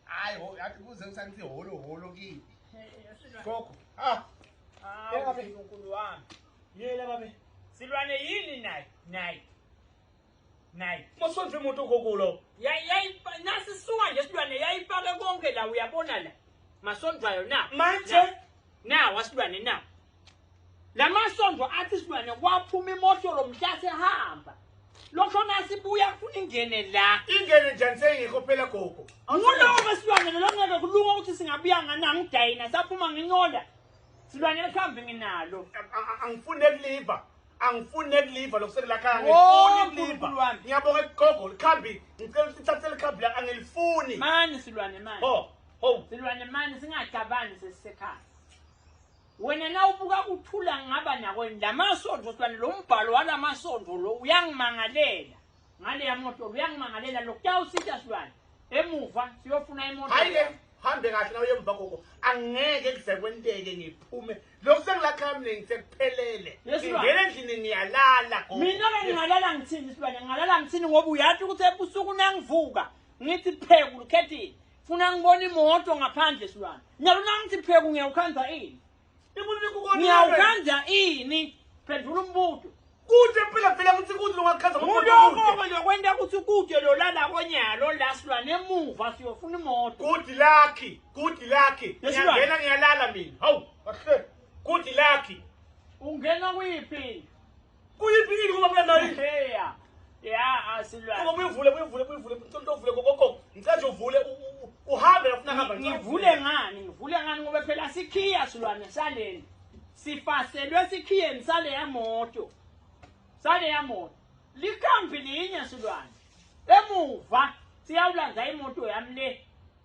Hayi, yathi kuze kusanithi holo holo kipi. Gogo. Ah. Ah, babe uNkulunkulu wami. Yela babe. Silwane yini naye? Naye. Naye. Mosonze imoto gokulo. Yayi nasi suka nje silwane yayipake konke la uyabona la. Masondwayo na. Manje na wasilwane na. Lamasondo athi silwane kwaphuma imoto lomhla sehamba. Lokho nasibuya funa ingene la. Ingene njani seyingekho phela gogo? Ngulowo wesilwane lo ngeke kulunga ukuthi singabuya ngani angidayina saphuma ngincola. Silwane lihambe nginalo. Angifune kuliva. angifuni nekuliva lokusengilakhala ngifuni kuliva ngiyabonga ekugogo likhambi ngicela ukuthi ithathe likhambi la angilifuni mani silwane mani ho ho silwane mani singacabangi sesisekhaya Wena na ubuka kuthula ngaba nako lamasonto sibani lo mbhalo walamasonto lo uyangimangalela ngale yamoto uyangimangalela lokutawusitha sibani emuva siyofuna imoto hayi ke hambe kahle nawe emva koko angeke kuze kwenteke ngiphume lokhu sengilakhala mina ngisekuphelele ngingena endlini ngiyalala mina ke ngingalala ngithini sibani ngingalala ngithini ngoba uyathi ukuthi ebusuku nangivuka ngithi phekulu khethini funa ngibona imoto ngaphandle silwane nyalo nangithi pheku ngiyawukhanda ini ngiyawukhanda ini phendula umbuto kude phela phela kuthi kude longakhaza ngokuthi lokwenta ukuthi kude lolala konyalo la silwane emuva siyofuna imoto good lucky good lucky ngiyangena ngiyalala mina hawu kahle good lucky ungena kuyiphi Kuyiphi ini ngoba mina nayi? Heya. Ya asilwa. Ngoba uyivule uyivule uyivule ucela uvule kokoko. Ngicela nje uvule uhambe ufuna hamba. Ngivule ngani? Ngivule ngani ngoba phela sikhiya silwane saleni. Sifaselwe sikhiyeni sale yamoto. Sale yamoto. Likhambi linye silwane. Emuva siyawulandza imoto yami le.